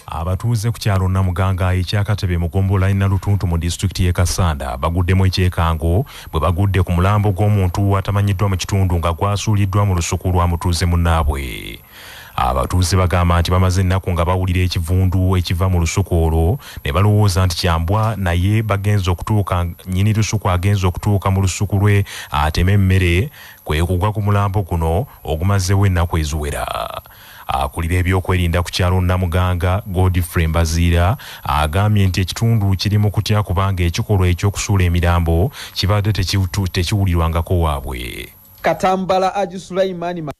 Abatuuze ku kyalo Namuganga ekyakatebe mu gombolola Nalutuntu mu disitulikiti y'e Kassanda baguddemu ekyekango bwe bagudde ku mulambo gw'omuntu atamanyiddwa mu kitundu nga gwasuuliddwa mu lusuku lwa mutuuze munnaabwe. Abatuuze bagamba nti bamaze ennaku nga bawulira ekivundu ekiva mu lusuku olwo ne balowooza nti kyambwa naye bagenze okutuuka nnyini lusuku agenze okutuuka mu lusuku lwe ateme emmere kwe kugwa ku mulambo guno ogumazeewo ennaku eziwera. Akulira ebyokwerinda ku kyalo Namuganga, Godfrey Mbaziira agambye nti ekitundu kiri mu kutya kubanga ekikolwa eky'okusuula emirambo kibadde tekiwulirwangako waabwe. Katambala Haji Sulaiman Magala.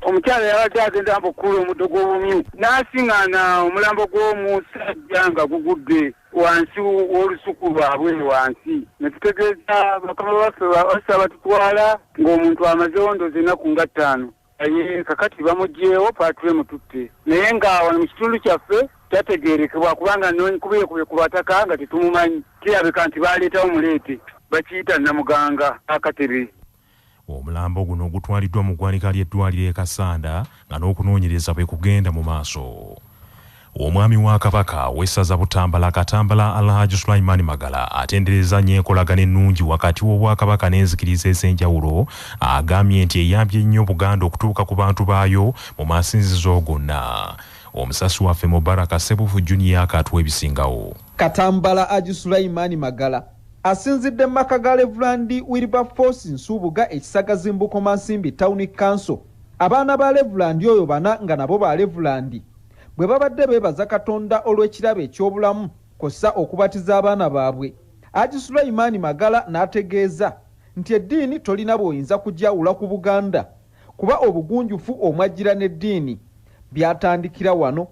Omukyala yabadde agenda mu kukuula omuddo gw'obumyu n'asing'aana omulambo gw'omusajja nga gugudde wansi w'olusuku lwabwe wansi ne tutegeeza bakama baffe bassa batutwala ng'omuntu amazeewo ndoozi ennaku nga ttaano. naye kakati bamugyewo pature mututte naye nga wano mu kitundu kyaffe tategerekebwa kubanga nkubyekubye ku bataka nga tetumumanyi kirabika nti baleetawo muleete bakiyita namuganga akatebe omulambo guno gutwaliddwa mu ggwanika ly'eddwaliro e kasanda nga n'okunoonyereza bwe kugenda mu maaso Omwami wa Kabaka w'essaza Butambala Katambala Alhaj Sulaiman Magala atenderezza nnyo enkolagana ennungi wakati w'Obwakabaka n'enzikiriza ez'enjawulo agambye nti eyambye nnyo Buganda okutuuka ku bantu baayo mu masinzizo gonna. Omusasi waffe Mubaraka Ssebuufu Junior akatuwa ebisingawo. Katambala Haji Sulaiman Magala asinzidde mu maka ga Levulandi Wilberforce Nsubuga e Kisagazi mu Bukomansimbi Tawuni Kanso abaana ba Levulandi oyo bana nga nabo ba Levulandi bwe babadde beebaza Katonda olw'ekirabo eky'obulamu kw'ossa okubatiza abaana baabwe. Haji Sulaiman Magala n'ategeeza nti eddiini tolina bw'oyinza kugyawula ku Buganda kuba obugunjufu omwajjira n'eddiini byatandikira wano.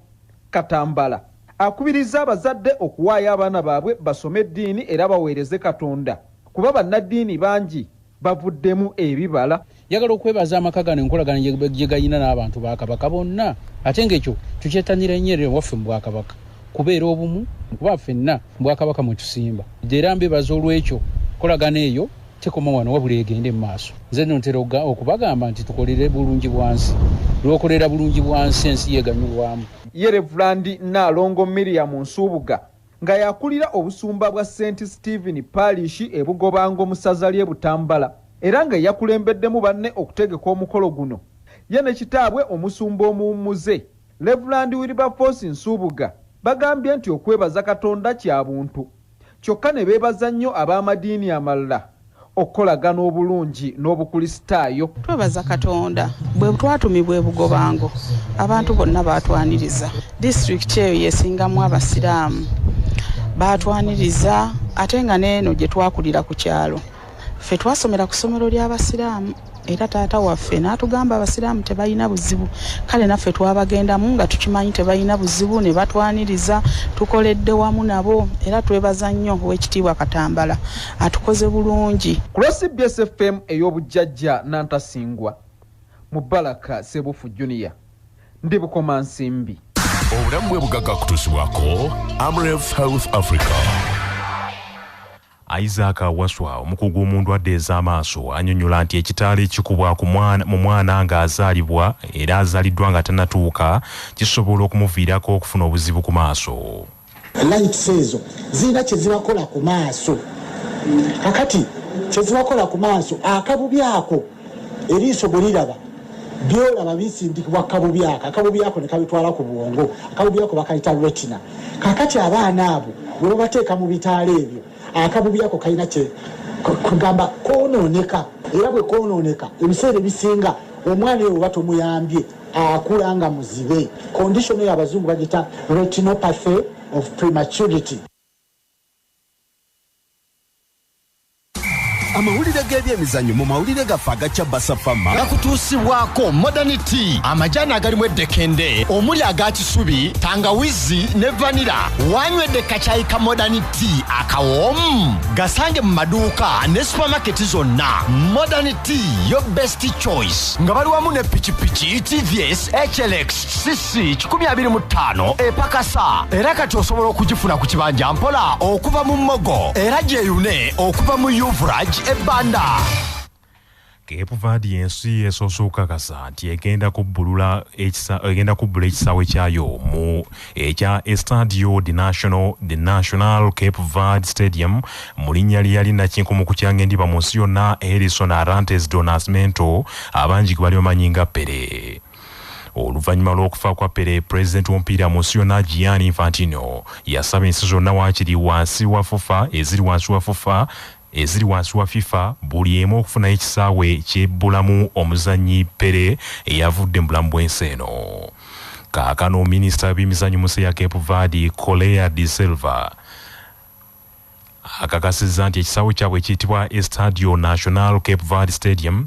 Katambala akubirizza abazadde okuwaayo abaana baabwe basome eddiini era baweereze Katonda kuba bannaddiini bangi bavuddemu ebibala. Njagala okwebaza amaka gano enkolagana gye galina n'abantu ba Kabaka bonna ate ng'ekyo tukyetanira nnyo era ewaffe mu Bwakabaka kubeera obumu kuba ffenna mu Bwakabaka mwe tusimba era mbebaza olw'ekyo nkolagana eyo tekoma wano wabula egende mu maaso nze no ntera okubagamba nti tukolere bulungi bwansi lw'okolera bulungi bwansi ensi yeganyulwamu ye Revulandi Nnaalongo Miriam Nsubuga Nga y'akulira obusumba bwa Saint Stephen Parish e Bugobango mu ssaza ly'e Butambala era nga yakulembeddemu banne okutegeka omukolo guno ye ne kitaabwe omusumba omuwummuze Rev. Wilberforce Nsubuga bagambye nti okwebaza Katonda kya buntu kyokka ne beebaza nnyo ab'amadiini amalala okukolagana obulungi n'obukulisitaayo. Twebaza Katonda bwe twatumibwa e Bugobango abantu bonna baatwaniriza. Disitulikiti eyo y'esingamu Abasiraamu. Baatwaniriza ate nga n'eno gye twakulira ku kyalo ffe twasomera ku ssomero ly'Abasiraamu. era taata waffe n'atugamba abasiraamu tebalina buzibu kale naffe twabagendamu nga tukimanyi tebalina buzibu ne batwaniriza tukoledde wamu nabo era twebaza nnyo ow'ekitiibwa katambala atukoze bulungi ku lwa cbs fm ey'obujjajja nantasingwa mubalaka sebuufu junior ndi bukomansimbi obulamu bwe bugagga kutuusibwako amref health africa Isaac Waswa, omukugu mu ndwadde ez'amaaso anyonyola nti ekitaala ekikubwa mu mwana ng'azaalibwa era azaliddwa nga tanatuuka kisobola okumuviirako okufuna obuzibu ku maaso. Lights ezo zirina kyezibakola ku maaso kakati kyezibakola ku maaso akabubi ako eriiso bwe liraba byolaba bisindikibwa kabubi ako akabubi ako ne kabitwala ku bwongo akabubi ako bakayita retina kakati abaana abo bwe babateeka mu bitaala ebyo akabubi ako kalina kye kugamba konooneka era bwe konooneka ebiseera ebisinga omwana eyo oba tomuyambye akula nga muzibe kondishono eyo abazungu bagita retinopathy of prematurity amawulire g'ebyemizannyo mu mawulire gaffe aga cabasa fama gakutuusibwako modern tea amajaani agalimu eddekende omuli aga kisubi tangawizi ne vanira wanywedde kacayi ka modern tea akawoomu gasange mu maduuka ne supamaketi zonna modern tea yo best choice nga bali wamu ne pikipiki tvs hlx sisi 25 epakasa era kati osobola okugifuna ku kibanja mpola okuva mu mmogo era gyeyune okuva mu uvrag ebbanda kepuvaadi yensi esoose okukakasa nti egenda kubbulula egenda kubbula ekisaawe kyayo mu ekya estadio the national the national cape vard stadium mu linnya lyeyali nakinkumu ku kyangendiba mu nsi yonna harrison arantes donasmento abangi gwe bali bamanyi nga pere oluvannyuma lw'okufa kwa pere pulezidenti w'omupiira mu nsi yonna gianni infantino yasaba ensi zonna waakiri wansi wa fufa eziri wansi wa fufa eziri wansi wa fifa buli emu okufunayo ekisaawe kyebbulamu omuzannyi pere eyavudde mu bulamu bw'ensi eno kaakano minisita w'ebyemizannyo mu nsi ya cape vadi colea de silva akakasizza nti ekisaawe kyabwe ekiyitibwa estadio national cape vadi stadium